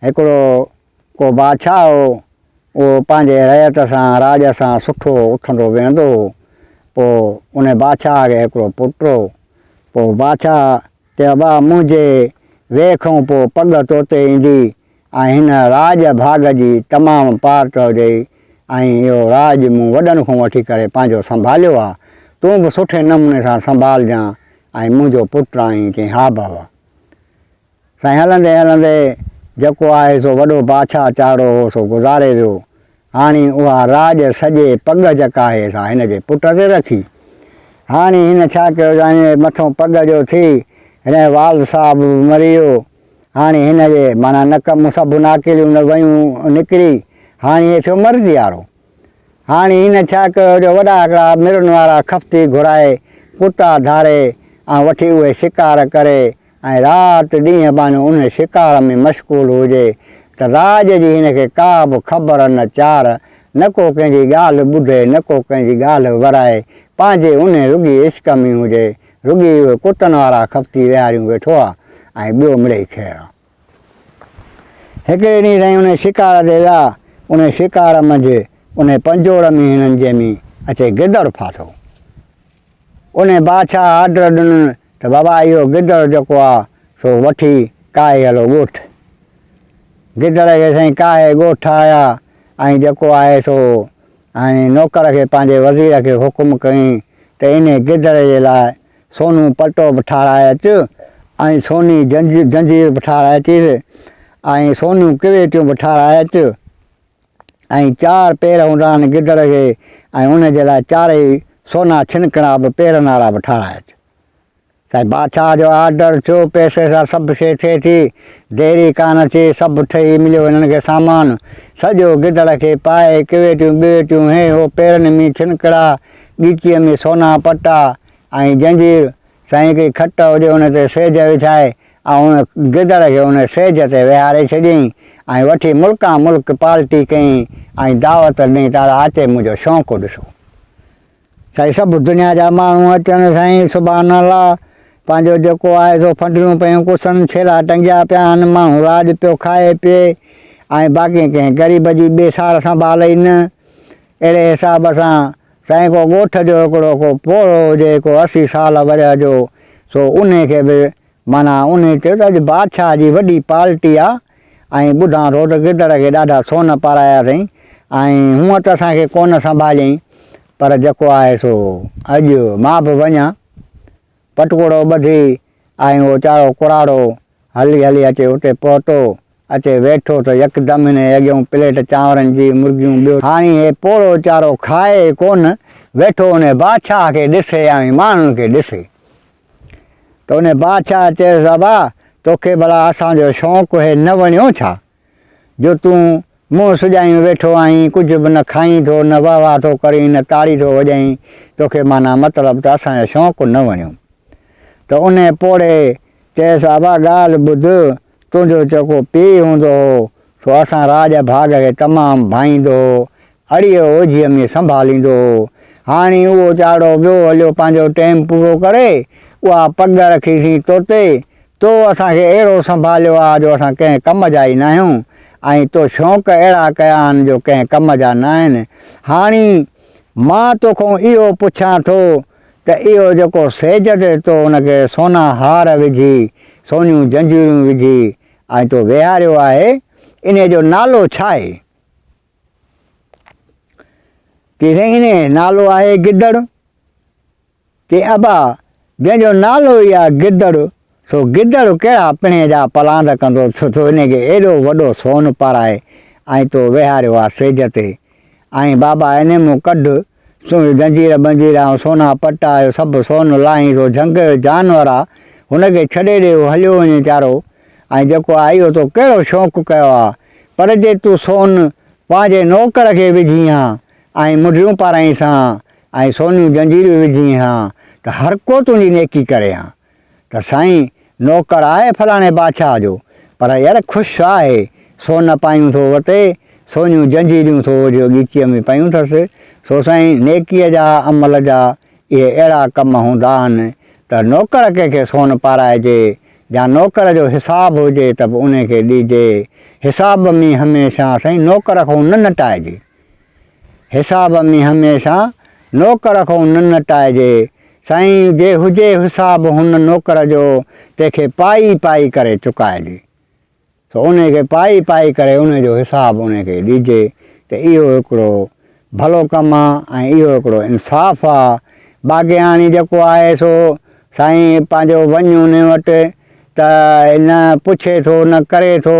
هڪڙو ڪو بادشاهه هو، اهو پنهنجي رعيت سان، راڄ سان سٺو اٿندو ويهندو هو. پوء ان بادشاهه کي هڪڙو پٽ هو. پوء بادشاهه چيو، ابا، منهنجي ويهه کان پوء پڳ تو تي ايندي ۽ هن راڄ ڀاڳ جي تمام پار چئجئي ۽ اهو راڄ مون وڏن کان وٺي ڪري پنهنجو سنڀاليو آهي، تون به سٺي نموني سان سنڀالجان ۽ منهنجو پٽ آهين. چيائين، ها بابا. سائين هلندي هلندي جيڪو آهي سو وڏو بادشاهه چاڙهو هو سو گذاري ويو. هاڻي اها راڄ سڄي پڳ جيڪا آهي سا هن جي پٽ تي رکي. هاڻي هن ڇا ڪيو جو هن جي مٿئون پڳ جو ٿي هن جو والد صاحب به مري ويو. هاڻي هن جي معنيٰ نڪ مون سڀ ناڪيليون ويون نڪري هاڻي هي ٿيو مرضيارو. هاڻي هن ڇا ڪيو جو وڏا هڪڙا مرن وارا خفتي گهرائي، ڪتا ڌاري ۽ وٺي اهي شڪار ڪري ۽ رات ڏينهن بانهيو ان شڪار ۾ مشغول هجي ته راڄ جي هن کي ڪا به خبر نه چار، نه ڪو ڪنهن جي ڳالهه ٻڌي نه ڪو ڪنهن جي ڳالهه ورائي، پنهنجي ان رڳي عشق ۾ هجي، رڳي اهي ڪتن وارا خفتي ويهاريون ويٺو آ ۽ ٻيو مڙئي خير آ. هڪڙي ڏينهن سائين انهي شڪار تي ويا، انهي شڪار منجهه انهي پنجوڙ ۾ هنن جي ۾ اچي گدڙ ڦاٿو. انهي بادشاهه آرڊر ڏنن ته بابا اهو گدڙ جيڪو آ سو وٺي ڪاهي هلو ڳوٺ. گدڙ کي سائين ڪاهي ڳوٺ آيا ۽ جيڪو آهي سو ۽ نوڪر کي پنهنجي وزير کي حڪم ڪئين ته انهي گدڙ جي لاء سونو پلٽو به ٺاهرائي اچ ۽ سوني جنجير به ٺاهرائي اچيس ۽ سونيون ڪريٽيون به ٺاهرائي اچ ۽ چار پير هوندان گدڙ کي ۽ ان جي لاء چارئي سونا ڇنڪڻا به پير نارا به ٺاهرائي اچ. سائين بادشاهه جو آرڊر ٿيو، پئسي سان سڀ شيء ٿئي ٿي، دير ئي ڪانه ٿي، سڀ ٺهي مليو هنن کي سامان، سڄو گدڙ کي پائي، ڪريٽيون ٻريٽيون هي هو پيرن ۾ ڇنڪڙا، ڳچيء ۾ سونا پٽا، ۽ جنجير سائين ڪي کٽ هجي ان تي سيج وڇائي ۽ ان گدڙ کي ان سيج تي ويهاري ڇڏيئين ۽ وٺي ملڪان ملڪ پالٽي ڪيئين ۽ دعوت ڏني ته اڙا اچي منهنجو شونقو ڏسو سائين سڀ دنيا جا ماڻهو اچن سائين سبحان الله پنهنجو جيڪو آهي سو ڦنڊريون پيون ڪسن ڇيلا ٽنگيا پيا آهن ماڻهو راڄ پيو کائي پي ۽ باقي ڪنهن غريب جي ٻي سار سنڀال ئي نه اهڙي حساب سان سائين ڪو ڳوٺ جو هڪڙو ڪو پوڙهو هجي ڪو اسي سال ورهيه جو سو انهي کي به معنيٰ انهي چيو ته اڄ بادشاهه جي وڏي پالٽي آ ۽ ٻڌان ٿو ته گدڙ کي ڏاڍا سون پارايا اٿئين ۽ هونء ته اسان کي ڪونه سنڀاليئين پر جيڪو آهي سو اڄ مان به وڃان پٽڪوڙو ٻڌي آء اهو چاڙهو ڪراڙو هلي هلي اچي اتي پهتو. اچي ويٺو ته يڪدم هن اڳيون پليٽ چانورن جي مرگيون ٻيو. هاڻي هي پوڙهو چارو کائي ئي ڪونه. ويٺو انهي بادشاهه کي ڏسي يا اوهين ماڻهن کي ڏسي. ته انهي بادشاهه چيس ابا توکي ڀلا اسان جو شونق هي نه وڻيو ڇا؟ جو تون منهن سجايون ويٺو آهين، ڪجهه به نه کائين ٿو، نه واهه واهه ٿو ڪرين، نه تاڙي ٿو وڄائين، توکي معنيٰ مطلب ته اسان جو شونق نه وڻيو. ته انهيء پوڙهي چيس، ابا ڳالهه ٻڌ، تنهنجو جيڪو پيء هوندو هو، سو اسان راڄ ڀاڳ کي تمام ڀائيندو هو، اڙيء اوجهيء ۾ سنڀاليندو هو. هاڻي اهو چاڙهو ٻيو هليو پنهنجو ٽيم پورو ڪري. اها پڳ رکي سين طوطي! تو اسان کي اهڙو سنڀاليو آ جو اسان ڪنهن ڪم جا ئي ناهيون ۽ تو شونق اهڙا ڪيا آهن جو ڪنهن ڪم جا ناهن. هاڻي مان توکون اهو پڇان ٿو ته اهو جيڪو سيج تي تو ان کي سونا هار وجهي، سونيون جنجيرون وجهي ۽ تو ويهاريو آهي، انهيء جو نالو ڇا آهي؟ ڪي رهيني نالو آهي گدڙ ڪي ابا جنهن جو نالو ئي آهي گدڙ سو گدڙ ڪهڙا پڻي جا پلاند ڪندو ڇو ٿو ان کي ايڏو وڏو سون پارائي ۽ تو ويهاريو آ سيج تي ۽ بابا اني مون ڪڍ سوئي زنجير ٻنجير آئون سونا پٽ آيو سڀ سون لاهين سو جهنگ جو جانور آ هن کي ڇڏي ڏي هو هليو وڃي چارو ۽ جيڪو آئي هو تو ڪهڙو شوق ڪيو آ پر جي تون سون پنهنجي نوڪر کي وجهين ها ۽ منڍيون پارائينس هان ۽ سونيون زنجيريون وجهين هان ته هرڪو تنهنجي نيڪي ڪري هان. ته سائين نوڪر آهي فلاڻي بادشاهه جو، پر ير خوش آهي، سون پايون ٿو وتي، سونيون جنجيريون ٿو اوڍيو ڳچيء ۾ پيون ٿس، سو سائين نيڪيء جا عمل جا اهي اهڙا ڪم هوندا آهن ته نوڪر ڪنهن کي سون پارائجي يا نوڪر جو حساب هجي ته به انهي کي ڏيجي، حساب ۾ هميشه سائين نوڪر کان نه نٽائجي. حساب ۾ هميشه نوڪر کؤن نه نٽائجي. سائين جي هجي حساب هن نوڪر جو تنهن کي پائي پائي ڪري چڪائجي. سو انهي کي پائي پائي ڪري انهي جو حساب انهي کي ڏجي ته اهو هڪڙو ڀلو ڪم آ ۽ اهو هڪڙو انصاف آ. باقي هاڻي جيڪو آهي سو سائين پنهنجو وڃ انهي وٽ ته نه پڇي ٿو نه ڪري ٿو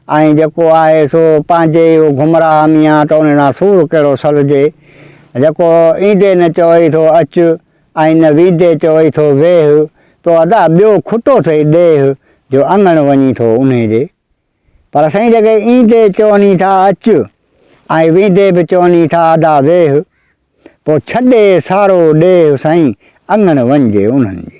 ۽ جيڪو آهي سو پنهنجي ئي گمراهه ميان ته ان ڏانهن سور ڪهڙو سلجي جيڪو ايندي نه چوئي ٿو اچ ۽ نه ويندي چوئي ٿو ويهه تو ادا ٻيو کٽو ٿئي ڏيهه جو اڱڻ وڃي ٿو انهي ڏي پر سائين جيڪي ايندي چوني ٿا اچ ۽ ويندي به چوني ٿا ادا ويهه پوء ڇڏي سارو ڏيهه سائين اڱڻ وڃجي انهن جي.